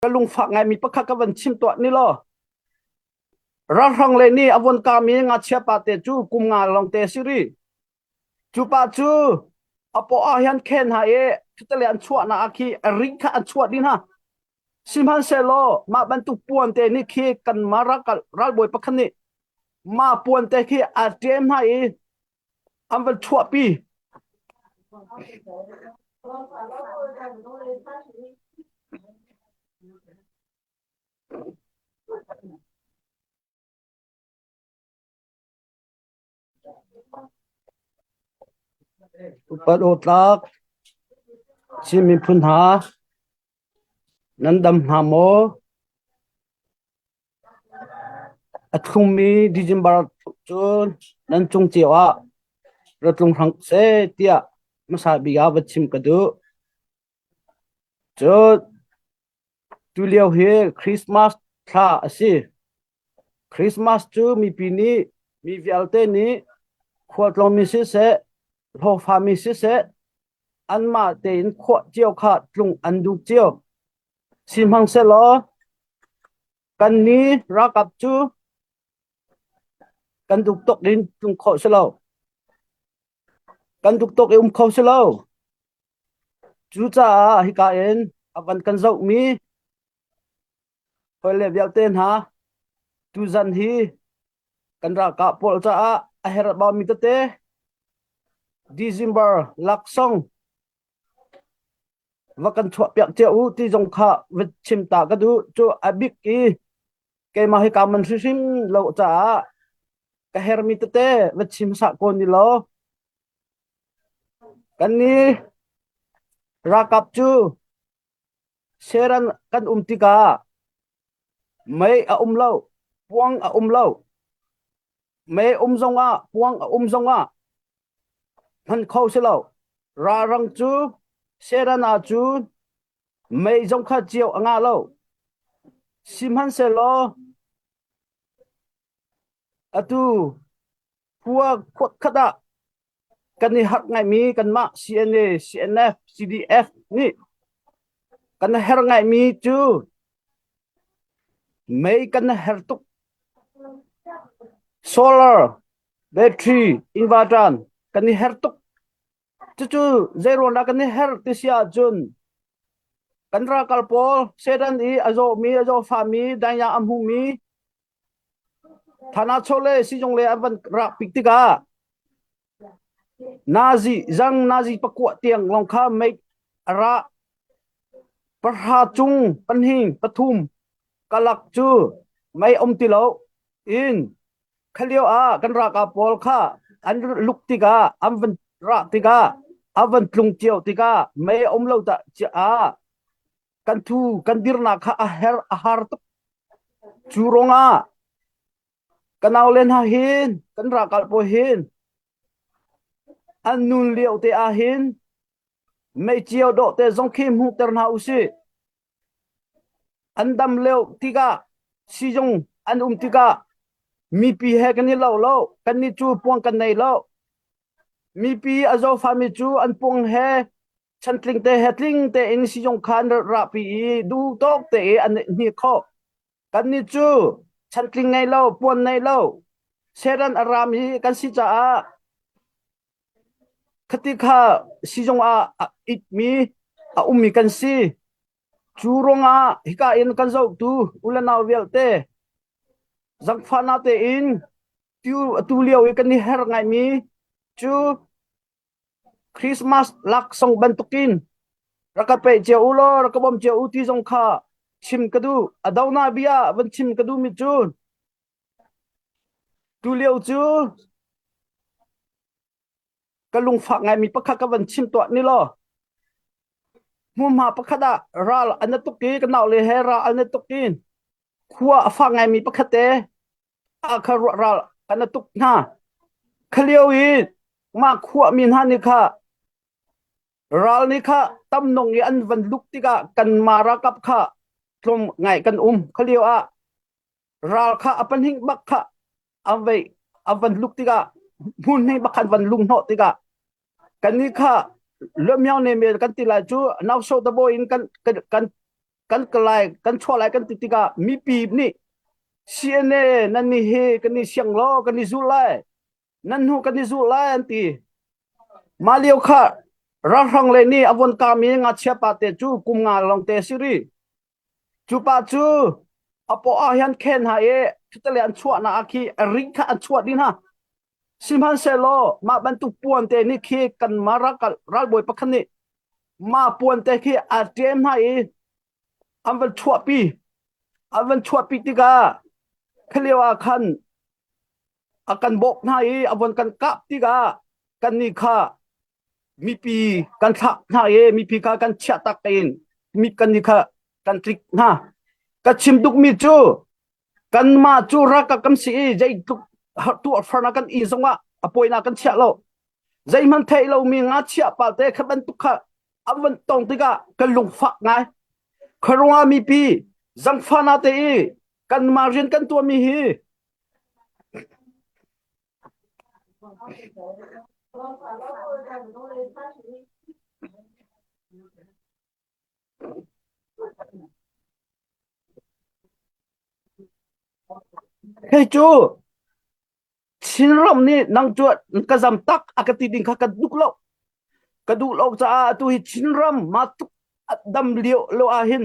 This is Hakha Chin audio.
ka lungfak ngaimi pakhat ka van chim tuah ni law ralhrang le ni avon kami ngachia pa te cu kum nga long te si ri cu pa cu apo ah hian khen ha e thutale an chuah na akhi ring kha an chuah din ha sihmanhsehlaw mah bantuk puan te ni khi kan mara kal ralbawi pakhat nih ma puan te khi a ṭem hna i An va chuahpi. Upat aw tlak. Chin miphun hna, nan dam hna maw? A thlummi December thuk cun nan cung cio ah ra tlung hram seh tiah hmasa bik ah va chim ka duh. Cun tulio hi Christmas thla a si. Christmas cu mipi nih mi vialte nih khualtlawngmi siseh, hlawhfami siseh anmah tein khuah cio kha tlung an duh cio. Sihmanhsehlaw kan ni ralkap cu kan duk tuk in um khawh si lo. Kan duk tuk i um kho si lo. Cucaah hika in a van kan zohmi hawi le vialte hna, tuzan hi kan ralkap pawl caah a herh baumi tete December laksawng va kan chuahpiak cia u ti zong kha va chim ta ka duh cu a bik i keimah hi ka man hrimhrim lo caah ka hermi tete va chim hsa ko ni law kan ni ralkap cu seran kan um tikah mei a um lo puang a um lo Me um zongah, puang a um zongah hman kho si lo. Ralrang cu serana cu mei zong kha cio a nga lo. Sihmanhsehlaw atu khua khuat khat ah Kan i harh ngaimi kanmah CNA, CNF, CDF nih kan a her ngaimi cu mei kan a her tuk. Solar, battery, inverter kan i her tuk. Cucu zeiruang dah kan i her ti si ahcun kan ralkal pawl Satan i a zawmi, a zawfami, danya a hmumi Thanachawh le sizung le an van rah pik tikah nazi zang nazi pakuah tiang lawng kha meik a ra. Pahra cung pahnih pathum kalak cu mei um ti lo in khalio ah kan ralkap pawl kha an luk tikah an van rah tikah an van tlung cio tikah mei a um lo dah ah kan thu kan dirnak kha a her a har tuk cu ruangah kan aulen ha hin kan rakal paw hin an nun lio te ah hin meicio dawh te zong khi hmuh ter hna usih an dam leo tikah sizung an um tikah mipi he kan i lo lo kan ni cu puang kan nei lo mipi a zofami cu an puang he Chantling te he tling tein sizung kha an rat rahpi i duhtawk tein an hni khawh. Kannih cu chantling ngei lo, puan nei lo, seran a raam i kan si caah khati kha sizung ah a itmi a ummi kan si. Cu ruangah hika in kan zohtu u le nau vialte zangfahnak tein tiu atu lio i kan i her ngaimi cu Christmas laksawng bantukin rak ka peh cio u law rak ka bawm cio u ti zong kha chim ka duh. A dohnah bia ah van chim ka duhmi cu tulio cu ka lungfak ngaimi pakhat ka van chim tuah ni law hmuhma pakhat ah ral an na tuk i ka naule he ral an na tuk i khua a fak ngaimi pakhat te ah kha ral kan a tuk hna. Kha lio i mah khuami hna nih kha ral nih kha tam nong i an van luk tikah kanmah ralkap kha tlawm ngai kan um. Kha lio ah ral kha a pahnih bak kha a vei a van luk tikah hmun hnih bak khan van lung hnawh tikah kannih kha luamyang ne men kan ti lai cu nauso dabo in kan kan kan kan kalai kan chuah lai kan ti tikah mipi nih CNA nan ni hi kan ni siang law kan ni zul lai nan hnu kan ni zul lai an ti mah lio kha ralhrang le nih avon kami ngachia pa te cu kum nga long te si ri Cu pa cu a paw ah hin khen hna i ṭhutele an chuahnak ah khi a ring kha an chuah dih hna. Sihmanhsehlaw mah bantuk puante nih khi kanmah ralbawi pakhat nih mah puante khi a ṭem hna i an van chuahpi. An van chuahpi tikah khalio ah khan a kan bawmh hna i a von kan kah tikah kannih kha, Mipi kan thlah hna i mipi kha kan chiah tak tein mi kan ni kha kan tlik hna. Ka chim dukmi cu kanmah cu ralkap kan si i zeitluk tuahfarnak kan i zongah a poinak kan chiah lo. Zeihmanh thei lomi ngachia palte kha bantuk kha an van tong tikah kan lungfak ngai. Khuaruah mipi zangfahna te i kanmah rian kan tuahmi hi Hei cu Chinram nih nang cuat ka zam tak a ka ti ding kha ka duk lo ka duh lo caah atu hi Chinram ma tuk a dam lio lo ah hin